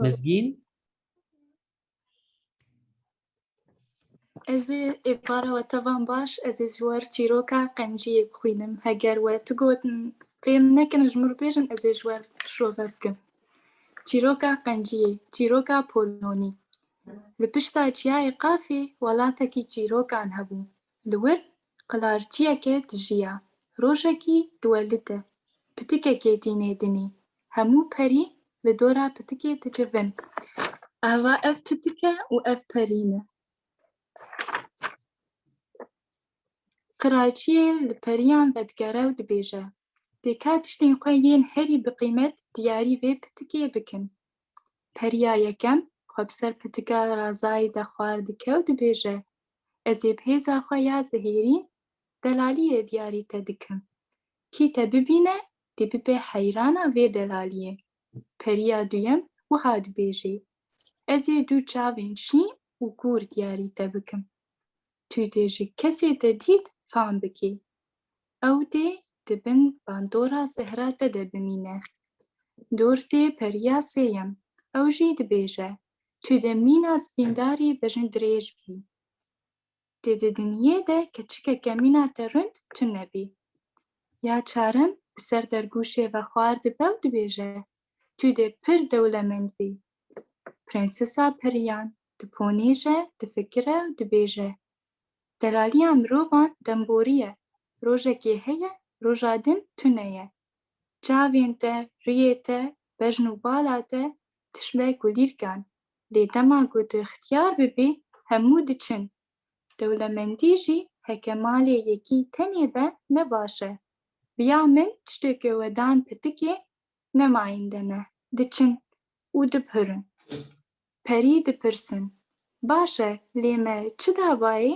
Mizgîn? Ez ê ê para we te van baş ez ê ji wer çîroka qenciyê bixwînim heger we tu gotin fêm nekin ji min bêjin ez ê ji wer şove bikim çîroka qenciyê çîroka polonî li pişta çiyayê qafê welatekî çîrokan hebû li wir Qilarciyeke dijiya, rojekî diwelite, pitikekê tînê dinî, hemû perî li dora pitikê dicivin. Ava ev pitike û ev perî ne. Qilarciyê li periyan vedigere û dibêje, Têka tiştên xwe yên herî biqîmet diyarî vê pitikê bikin. Periya yekem xwe bi ser pitika razayî de xwar dike û dibêje, Ez ê bi hêza xwe ya zihêrîn delaliyê diyarî te dikim. Kî te bibîne dê bibe heyrana vê delaliyê. Periya duyem wiha dibêjê, Ez ê du çavên şîn û kûr diyarî te bikim. Tu dê ji kesê te dît fam bikî. Ew dê di bin bandora zehra te de bimîne. Dortê periya sêyem, ew jî dibêje, Tu di mîna spîndarî bejn dirêj bî. Tu di dinyê de keçikeke mîna te rund tune bî. Ya çarem bi ser dergûşê ve xwar dibe û dibêje, tu dê pir dewlemend bî. Prensesa Periyan diponîje, difikire û dibêje, Delaliya mirovan demborî ye, rojekê heye, roja din tune ye. Çavên te, riyê te, bejn û bala te tişbe kulîrkan, lê dema ku tu xtiyar bibî hemû diçin. Dewlemendî jî heke malê yekî tenê be ne baş e. Bi ya min tiştê ku we dan pitikê ne mayînde ne, diçin û dibhirin. Perî dipirsin, Baş e, lê me çi dabayê?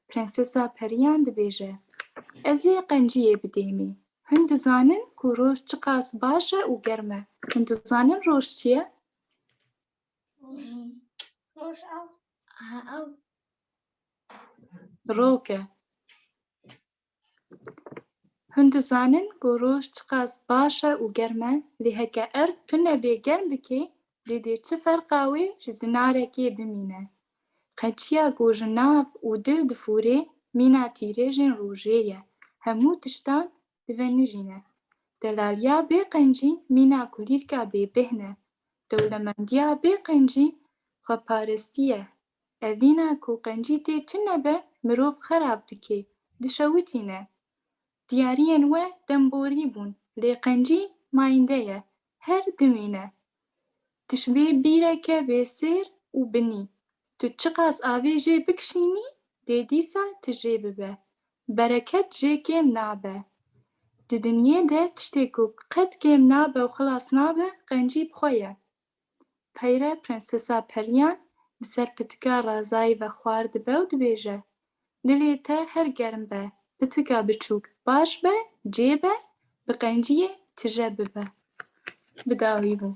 Prensesa periyan dibêje, Ez ê qenciyê bidêmî. Hûn dizanin ku roj çiqas baş e û germ e. Hûn dizanin roj çi ye? Roj ew e. Rok e. Hûn dizanin ku roj çiqas baş e û germ e, lê heke erd tune bê germ bikê lê dê çi ferqa wê ji zinarekê bimîne. Qeçiya ku ji nav û dil difûrê mîna tîrêjên rojê ye, hemû tiştan divenijîne. Delaliya bê qencî mîna kulîlka bêbêhn e. Dewlemendiya bê qencî xweparestî ye, Evîna ku qencî tê tune be mirov xerab dike, dişewitîne. Diyariyên we demborî bûn lê qencî mayînde ye, her dimîne. Tişbê bîreke bêsêr û binî, tu çiqas avê jê bikişînî lê dîsa ti jê bibe. Bereket jê kêm nabe. Di dinyê de tiştê ku qet kêm nabe û xilas nabe qencî bi xwe ye. Peyre Prensesa Periyan bi ser pitika Razayî ve xwar dibe û dibêje, Dilê te her germ be, pitika biçûk baş be, cê be, bi qenciyê tije bibe. Bi dawî bû.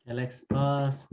Gelek spas.